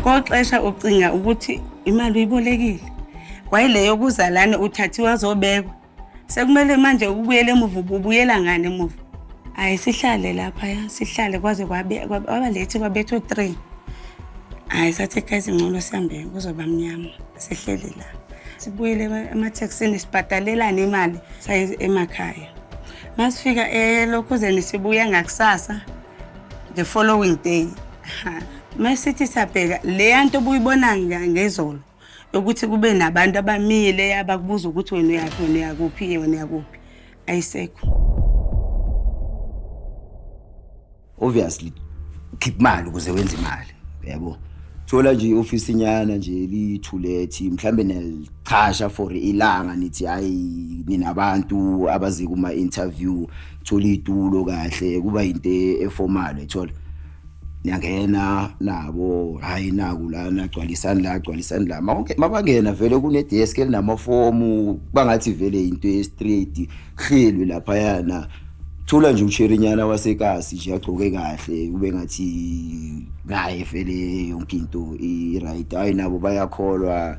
Koxesha ucinga ukuthi imali uyibolekile kwayileyo okuzalane uthathiwe azobekwa sekumele manje ubuyele emuva ubuyela ngani emuva hayi sihlale lapha ya sihlale kwaze wabalethi kwabetho three hayi sathe kha izingcono sihambe kuzoba mnyama sihleli la sibuyele emathekisini sibhadalelane imali saye emakhaya masifika elokhuzeni sibuya ngakusasa the following day masithi siyabheka leya nto obuyibona ngezolo yokuthi kube nabantu abamile abakubuza ukuthi wena uyaphi wena uyakuphi wena uyakuphi ayisekho obviously khipha imali ukuze wenze imali yabo thola nje iofisi nyana nje lithulethi mhlambe nelichasha for ilanga nithi hayi ninabantu abazi kuma interview thola itulo kahle kuba into eformal ethola niyangena nabo hayi naku lana gcwalisani la gcwalisani la mabangena vele kunedesk elinamafomu bangathi vele into estraight hlelwe lapha yana thola nje usherinyana wasekasi nje agcoke kahle kube ngathi naye vele yonke into i right hayi nabo bayakholwa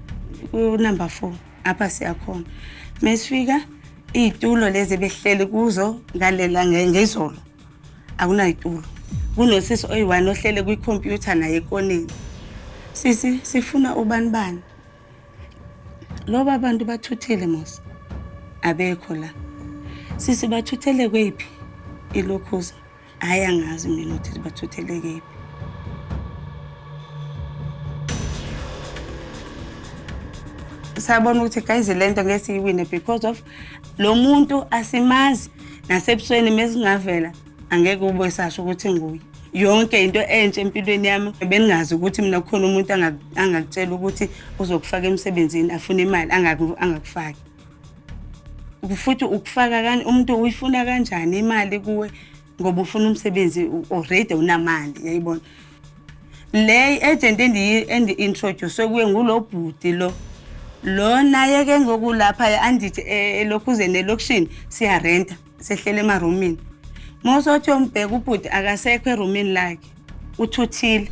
unumber four apha siyakhona mesifika iy'tulo lezi behleli kuzo ngalela ngezolo akunay'tulo kunosisi oyi-one ohlele kwikhompyutha naye ekoneni sisi sifuna ubani bani loba abantu bathuthile mos abekho la sisi bathuthele kweyiphi ilokhuza hhayi angazi mina ukuthi bathuthelekephi sabona ukuthi guys le nto ngeke siyiwine because of lo muntu asimazi nasebusweni mesingavela angeke ube sasho ukuthi nguye yonke into entsha empilweni yami beningazi ukuthi mina kukhona umuntu angakutshela ukuthi uzokufaka emsebenzini afune imali angakufaki futhi ukufaka kani umuntu uyifuna kanjani imali kuwe ngoba ufuna umsebenzi already unamali yayibona le agent endi-introduce kuye ngulo bhuti lo lo naye ke ngoku lapha andithi eh, elokhuzeni elokishini siyarenta sehlele emarumini mosothi yombheka ubhuti akasekho erumini lakhe uthuthile